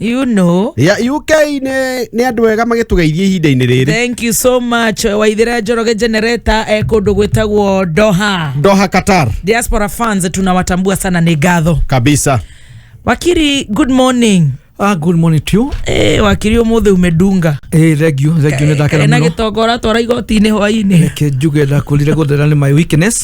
you know ya UK nĩ nĩ andũ ega magĩtũgeithia ihinda-inĩ rĩrĩ thank you so much waithira njoroge generator eh, kũndũ gwĩtagwo doha Doha Qatar diaspora fans tunawatambua sana ni ngatho kabisa wakiri good morning Ah, good morning to you. eh, wakiri umuthi umedunga Eh, thank you, thank you. Nĩ ndakena na mũno. gĩtonga ũratwara igoti-inĩ hwainĩ Reke njuge ndakurire gũthera nĩ my weakness.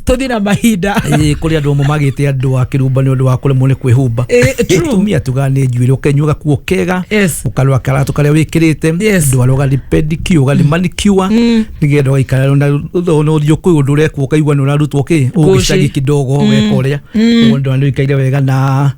tũthiĩ na mahinda Ĩĩ, kũrĩ andũ amwe magĩte andũ a kĩrumba nĩ ũndũ wa kũremwo nĩ kwĩhumba Ĩĩ, true. tumia tuga nĩ njuĩrĩ ũkenyua gakuo kega Yes. ũkarwa karato karĩa wĩkĩrĩte Yes. ndwara ũgathi pedicure ũgathi manicure nĩgetha ũgaikara na ũtho na ũthiũ kwĩ ũndũ ũrekwo ũkaigua nĩ ũrarutwo kĩ Ngũcĩ. ũgĩcagi kidogo weka ũrĩa mũndũ nĩ ũikaire wega na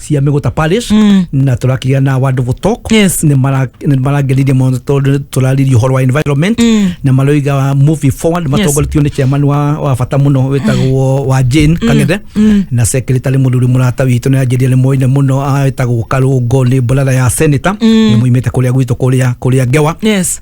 cia mĩgũta parish mm. na tũrakĩgĩa na wonderful talk Yes. nĩ mara- nĩ marangenirie mũno tondũ tũraririe ũhoro wa environment mm. na maroiga moving forward matongoretio nĩ chairman wa, wa bata mũno wĩtagwo wa Jane Kang'ethe mm. na secretary mũthuri mũrata witũ nĩ anjĩria nĩ moine mũno ah, wĩtagwo Karũngo nĩ brother ya senator mm. nĩ moimĩte kũrĩa gwitũ kũrĩa kũrĩa Ngewa yes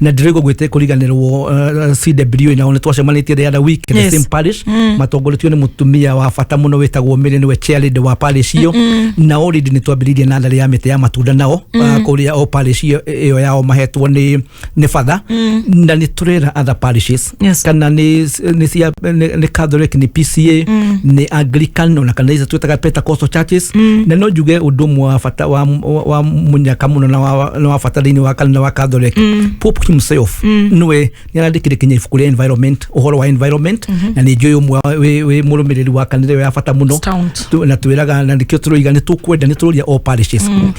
na ndĩraigua gwĩte kũriganĩrwo uh, cw nao nĩ twacemanĩtie the other week in Yes. the same parish matongoretio nĩ mũtumia wa bata mũno wĩtagwo mĩrĩ nĩwe chairlady wa parish iyo na already nĩ twambĩrĩirie natharĩ ya mĩtĩ ya matunda nao uh, kũrĩa o parish iyo- ĩyo yao mahetwo nĩ nĩ batha na nĩ tũrera other parishes Yes. kana nĩ nĩ cia nĩ nĩ Catholic nĩ PCA nĩ Anglican ona kana icio twĩtaga Pentecostal churches na no njuge ũndũ ũmwe wa bata wa wa- wa mũnyaka mũno na wa na wa bata thĩinĩ wa kanitha wa Catholic Pope himself nĩwe nĩ arandĩkire kinya ibuku rĩa environment ũhoro wa environment na nĩ njũĩ ũmwe wa- wĩ wĩ mũrũmĩrĩri wa kanitha ĩyo ya bata mũno Stout. Tu- na twĩraga na nĩkĩo tũroiga nĩ tũkwenda nĩ tũroria all parishes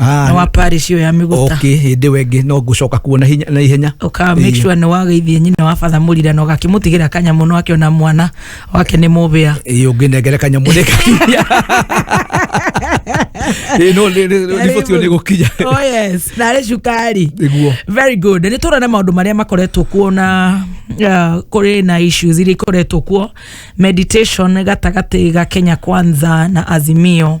Ah, na wa parish ĩyo ya mĩgũta okay hĩndĩ ĩyo ĩngĩ no ngũcoka kuo na hinya- na ihenya uka make Ĩĩ. sure nä wageithie nyina wa batha må rira na å gakä må tigä ra kanyamå no akä ona mwana wake nä må bä a Ĩĩ, ũngĩnengere kanyamũ nĩ kakinya Ĩĩ, no nĩ- nĩ- nĩ- riboti ĩyo nĩ gũkinya narä cukari Nĩguo. very good nä tå rona maå ndå marä a makoretwo kuo na kå rä na issues iria ikoretwo kuo meditation gatagatä ga kenya kwanza na azimio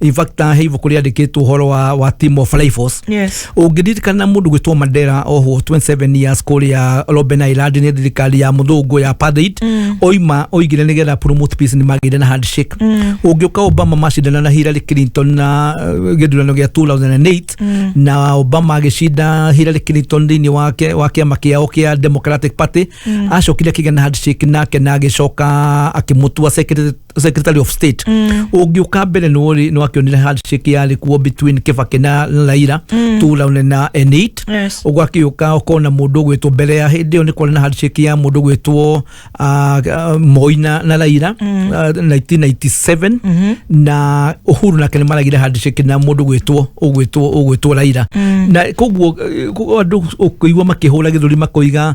in fact he ibuku riandikitwo horo wa, wa team of rifles Yes. ũngĩririkana mũndũ gwĩtwo mandera ohwo 27 years kũrĩa robben island nĩ thirikari ya mũthũngũ ya apartheid oima oigire nĩ getha promote peace nĩ magĩire na handshake ũngĩũka obama macindana na hillary clinton na uh, gĩthurano gĩa 2008 na obama agĩcinda hillary clinton thĩinĩ wake wa kĩama kĩao kĩa democratic party acokire akĩgĩa na handshake nake na agĩcoka akĩmũtua secretary secretary of state ũngĩũka mbere nĩ wakĩonire handshake yarĩ kuo between kĩbake na laira tulaune na enit Yes. ũgakĩũka ũkona mũndũ ũgwĩtwo mbere ya hĩndĩ ĩyo nĩ kwarĩ na handshake ya mũndũ ũgwĩtwo ah, ah, moi na na laira ah, 1997 na uhuru nake nĩ maragire handshake na mũndũ ũgwĩtwo ũgwĩtwo ũgwĩtwo laira na koguo eh, koguo andũ ũkĩigua makĩhũra gĩthũri makoiga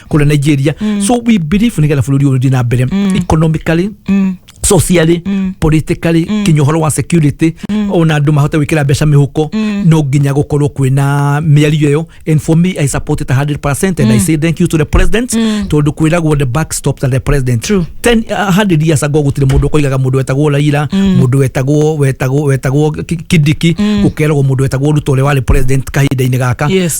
kũrĩa nigeria so we believe nĩgetha bũrũri ũyũ ũthiĩ na mbere economically socially politically kinya ũhoro wa security ona andũ mahote gwĩkĩra mbeca mĩhuko no nginya gũkorwo kwĩna mĩario ĩyo and for me i support it 100% and i say thank you to the president tondũ kwĩragwo the back stops at the president True. ten uh, hundred years ago gũtirĩ mũndũ ũkoigaga mũndũ wetagwo raira mũndũ wetagwo wetagwo wetagwo Ki- kidiki gũkeragwo mũndũ wetagwo ruto ũrĩa warĩ president kahinda-inĩ gaka Yes.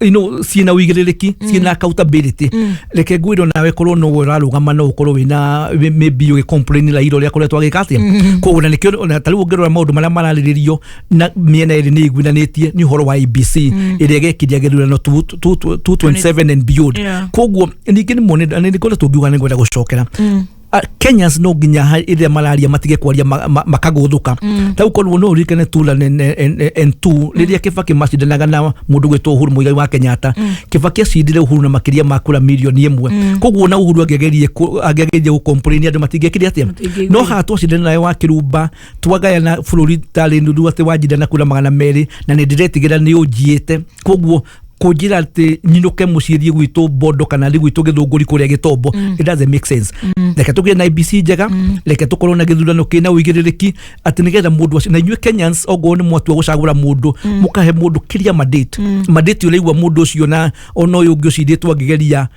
you know, ciĩna ũigĩrĩrĩki ciĩna accountability reke ngwĩrwo nawe korwo no ũrarũgama no ũkorwo wĩna wĩ- maybe ũgĩ complain la iro rĩa kũrĩa twagĩka atĩa koguo na nĩkĩo ona ta rĩu ũngĩrora maũndũ marĩa mararĩrĩrio na mĩena ĩrĩ nĩ ĩiguithanĩtie nĩ ũhoro wa ABC ĩrĩa ĩgekiria gĩthurano 227 and beyond Yeah. koguo ningĩ nĩ mone nĩ kũrĩa tũngiuga nĩ ngwenda gũcokera Ah, kenyans no nginya ha- rĩrĩa mararia matige kwaria ma- ma- makagũthũka ta ukorwo no uririkane tu la n2 rĩrĩa kĩbakĩ macindanaga na mũndũ gwĩtwo uhuru mũigai wa kenyatta kĩbakĩ acindire uhuru na makĩria ma kura mirioni ĩmwe koguo na uhuru angĩagerie kũ- angĩagerie gũkomplaini andũ matingĩkire atĩa Matingĩiguire. no haha twacindana nayo wa kĩrumba twagayana bũrũri tarĩ nuthu atĩ wanjindana kura magana merĩ na nĩ ndĩretigĩra nĩ ũnjiĩte koguo kunjira ati nyinuke mucii thie gwitu bondo kana thi gwitu githunguri kuria gitombo it doesn't make sense reke tugire na ibc njega reke tukorwo na githurano kina uigiririki ati nigetha mundu acio na inyuĩ kenyans ongorwo nĩ mwatua gũcagũra mundu mũkahe mundu kiria mandate mandate ũraigua mundu ũcio na ona ũyũ ũngĩ ũcindĩtwo angĩgeria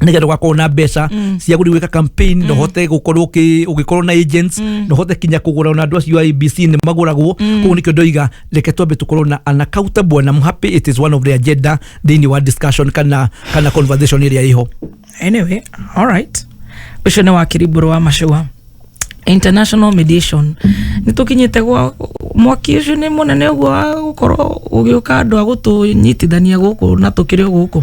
nigetha ugakorwo na mbeca cia guthiĩ gwĩka campaign no hote gukorwo ũki- ũgĩkorwo na agents no hote kinya kugura ona andũ acio a abc nĩ maguragwo koguo nĩkĩo ndoiga reke twambe tukorwo na an accountable and I'm happy it is one of the agenda thĩinĩ wa discussion kana kana conversation ĩrĩa ĩho anyway all right ucio ni wakiri mburu wa macua international mediation nä tå kinyä te gwa mwaki å cio nä må nene å guo wa gå korwo å gä å ka andå a gå tå nyitithania gå kå na tå kä rä o gå kå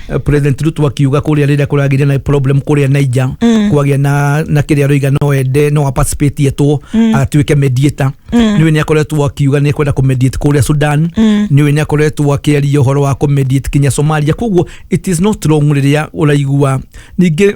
eh, president ruto akiuga kũrĩa rĩrĩa kũragĩria na problem kũrĩa naija kwagĩa na na kĩrĩa roiga no ende no aparticipate yetwo atuĩke mediator nĩwe nĩ akoretwo akiuga nĩ kwenda kũmediate kũrĩa sudan nĩwe nĩ akoretwo akĩaria ũhoro wa kũmediate kinya somalia koguo it is not wrong rĩrĩa ũraigua ningĩ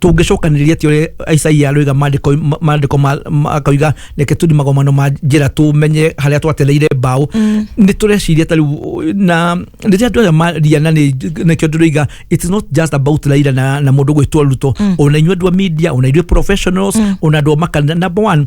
tũngĩcokanĩrĩria ti ũrĩa isaia arũiga mandĩko ma- mandĩko ma- ma- akoiga reke tũthi magomano ma njĩra tũmenye harĩa twatereire mbaũ nĩ tũreciria ta rĩu na rĩrĩa andũ aya maria na nĩ- nĩkĩo ndĩroiga it is not just about raira na, na mũndũ gwĩtwo ruto ona inyuĩ andũ a media ona ithuĩ professionals ona andũ a makanitha number one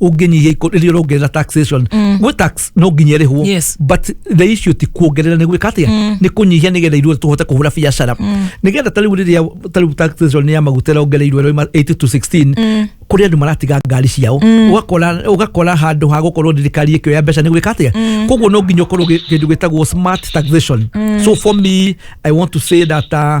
ũngĩnyihia ikũ- rĩrĩa ũrongerera taxation gwĩ tax no nginya ĩrĩhwo Yes. but the issue ti kuongerera nĩ gwĩka atĩa nĩ kũnyihia nĩgetha ithuothe tũhote kũhũra biacara nĩgetha ta rĩu rĩrĩa ta rĩu taxation ya maguta ĩrongereirwo ĩroima 80 to 16 kũrĩ andũ maratiga ngari ciao ũgakora ũgakora handũ ha gũkorwo thirikari ĩkĩoya mbeca nĩ gwĩka atĩa koguo no nginya ũkorwo gĩ- kĩndũ gĩtagwo smart taxation so for me i want to say that uh,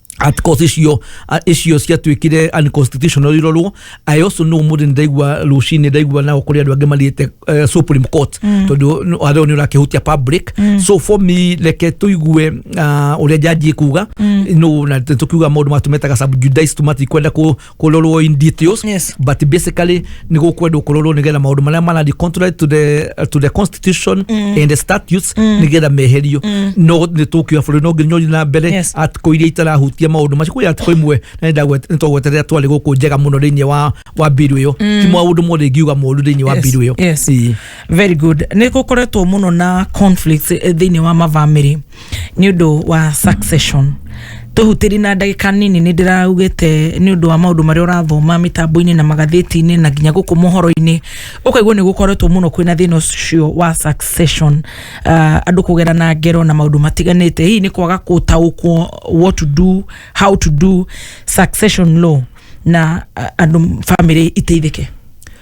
at course icio a- icio ciatuĩkire unconstitutional irorwo i also know mũndũ ndaigua rũcinĩ ndaigua nao kũrĩ andũ angĩ mathiĩte eh, supreme court tondũ arĩo nĩ ũrakĩhutia public so for me reke tũigue ah, ũrĩa njanji kuga no na tũkiuga maũndũ matũmetaga subjudice tũmatikwenda kũ- kurorwo in details Yes. but basically ni gukwendwo kurorwo nigetha maundu maria marari contrary to the, to the constitution and the statutes nigetha meherio no ni tukiwa bũrũri no nginya ũthiĩ na mbere Yes. atikũ iria itarahutia maundu macio kwĩ atikũ imwe na nĩ twagweterera twarĩ gũkũ njega mũno thĩinĩ wa wa mbiru ĩyo ti maũndũ mothe ingiuga moru thĩinĩ wa Yes, mbiru ĩyo yes. Ĩĩ. very good nä gå koretwo må no na conflict thä inä wa mabamä nĩ ũndũ wa succession tũhutĩri na ndagĩka nini nĩ ndĩraugĩte nĩ ũndũ wa maũndũ marĩa ũrathoma mĩtambo-inĩ na magathĩti-inĩ na nginya gũkũ mohoro-inĩ ũkaigua nĩ gũkoretwo mũno kwĩna thĩna ũcio wa succession uh, andũ kũgera na ngero na maũndũ matiganĩte hihi nĩ kwaga gũtaũkwo what to do how to do succession law na uh, andũ bamĩrĩ iteithĩke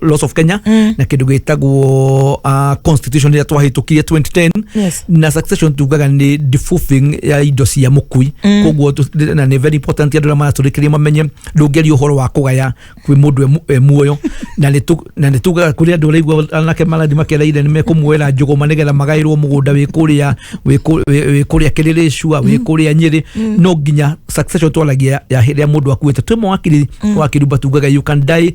laws of kenya mm. na kindu gitagwo uh, constitution ria twahitukirie 2010 Yes. na succession tugaga ni defuffing ya indo cia mukui mm. koguo tu- na ni very important andu maraturikiria mamenye ndungeria uhoro wa kugaya kwi mundu e mu- e muoyo na ni tu- na ni tugaga kuri andu raigua anake maradi makereire ni mekumuera njuguma nigetha magairwo mugunda wi kuria wi ku- wi- wi kuria kiriricua wi kuria nyiri no nginya succession twaragia ya hiria mundu akuite twi mawakiri wakiri batugaga you can die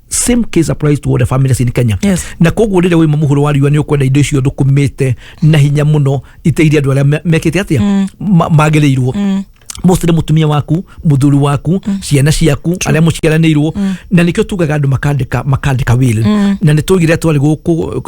same case applies to all the families in Kenya Yes. na koguo rĩrĩa wĩma mũhũro wa riũa nĩ ũkwenda indo icio thũkũmĩte na hinya mũno iteirie andũ arĩa me- mekĩte atia Ma- magĩrĩirwo mostly nĩ mũtumia waku mũthuri waku ciana ciaku arĩa mũciaranĩirwo na nĩkĩo tugaga andũ makandĩka makandĩka will na nĩ tũgire twarĩ gũkũ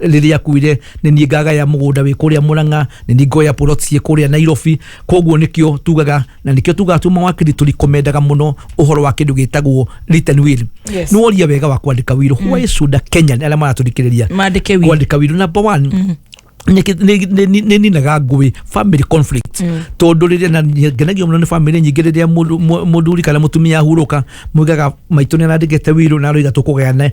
rĩrĩa akuire nĩ niĩ ngagaya mũgũnda wĩ kũrĩa mũrang'a nĩ niĩ ngoya plot ciĩ kũrĩa nairobi koguo nĩkĩo tugaga na nĩkĩo tugaga tuma wa kiri tũrikomendaga mũno ũhoro wa kĩndũ gĩtagwo written will Yes. nĩ woria wega wa kwandĩka wiro why should a kenyan arĩa maratũrikĩrĩria Maandĩke will. kwandĩka wiro number one nĩkĩ- nĩ- nĩ- nĩ- nĩ ninaga ngũĩ family conflict tondũ rĩrĩa na nĩ- ngenagio mũno nĩ family nyingĩ rĩrĩa mũndũ- mũ- mũthuri kana mũtumia ahurũka mwigaga maitũ nĩ arandĩkĩte wiro na aroiga tũkũgayane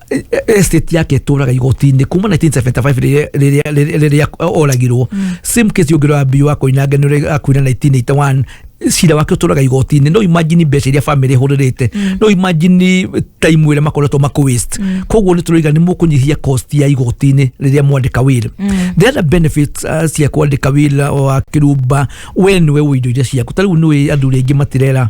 estate yake tũraga igoti-inĩ kuma 1975 rĩrĩa- rĩrĩa- rĩrĩa rĩrĩa oragirwo same case ũngĩrwo ambio wa koinange nĩ ũrĩa akuire 1981 cira wake ũtũraga igoti-inĩ no imagine mbeca iria bamĩrĩ ĩhũrĩrĩte no imagine time ĩrĩa makoretwo makũ waste koguo nĩ tũroiga nĩ mũkũnyihia cost ya igoti-inĩ rĩrĩa mwandĩka wĩra the other benefits uh, cia kwandĩka wĩra wa kĩrumba we nĩwe wĩ indo iria ciaku ta rĩu nĩwĩ athuri aingĩ matirera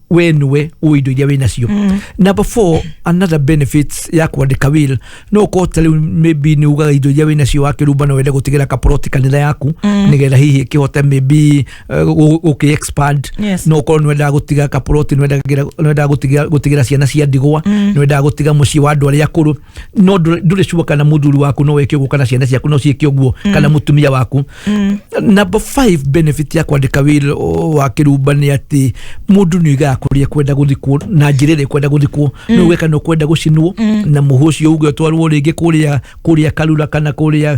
we nĩwe ũĩ indo iria wĩ nacio number four another benefits ya kwandĩka will no ũkorwo ta rĩu maybe nĩ ugaga indo iria wĩ nacio wakĩrumba no wende gũtigĩra kaporoti kanitha yaku nĩgetha hihi ĩkĩhote maybe uh, gũ- gũkĩ expand Yes. no ũkorwo nĩ wendaga gũtiga kaporoti nĩ wendaga- nĩ wendaga gũtiga- gũtigĩra ciana cia ndigwa nĩ wendaga gũtiga mũciĩ wa andũ arĩa akũrũ no ndũ- ndũrĩ sure kana mũthuri waku no weke ũguo kana ciana ciaku no ciĩke ũguo kana mũtumia waku number five benefit ya kwandĩka wĩra o- wa kĩrumba nĩ atĩ mũndũ nĩ oigaga kũrĩa kwenda gũthikwo na njĩra ĩrĩa kwenda gũthikwo nĩ uge kana ũkwenda gũcinwo na mũhũ ũcio uge ũtwarwo rĩngĩ kũrĩa kũrĩa karura kana kũrĩa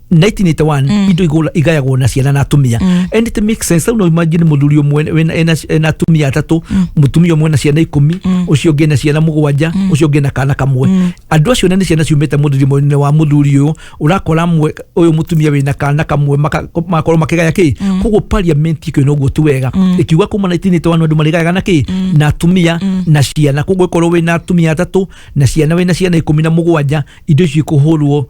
1981 indo igũra- igayagwo na ciana na atumia and it makes sense au no imagine muthuri umwe wena- ena ena atumia atatu mutumia umwe na ciana ikumi ucio ungi na ciana mugwanja ucio ungi na kana kamwe andu acio nene ciana ciumite muthurimo-ini wa muthuri uyu urakora mwe uyu mutumia wina kana kamwe maka- makorwo makigaya ki koguo parliament ikio noguo tu wega ikiuga kuma 1981 andu marigayaga na ki na atumia na ciana koguo ikorwo wina atumia atatu na ciana wina ciana ikumi na mugwanja indo icio ikuhurwo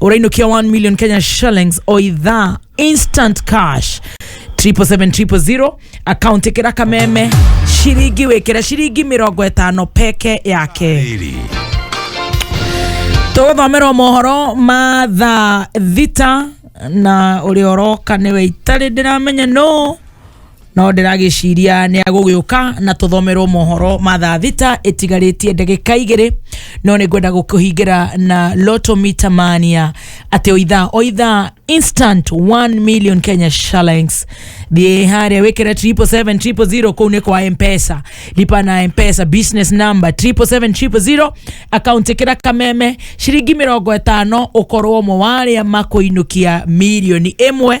urainukia 1 million kenya shillings o idhaa instant cash 77700 account ikira kameme shiringi wikira shiringi mirongo itano peke yake Iri. tũgũthomerwo mohoro ma thaa thita na ũrĩa ũroka nĩwe itarĩ ndĩramenya no no ndĩragĩciria nĩ agũgĩũka na tũthomerwo mohoro ma thaa thita ĩtigarĩtie ndagĩka igĩrĩ no nĩ ngwenda gũkũhingĩra na loto mita mania atĩ o ithaa o ithaa instant 1 million kenya shillings thiĩ harĩa wĩkĩre 777 kũu nĩ kwa mpesa lipa na mpesa business number 777 akaunti ĩkĩra kameme ciringi mĩrongo ĩtano ũkorwo ũmwe wa arĩa makũinũkia milioni ĩmwe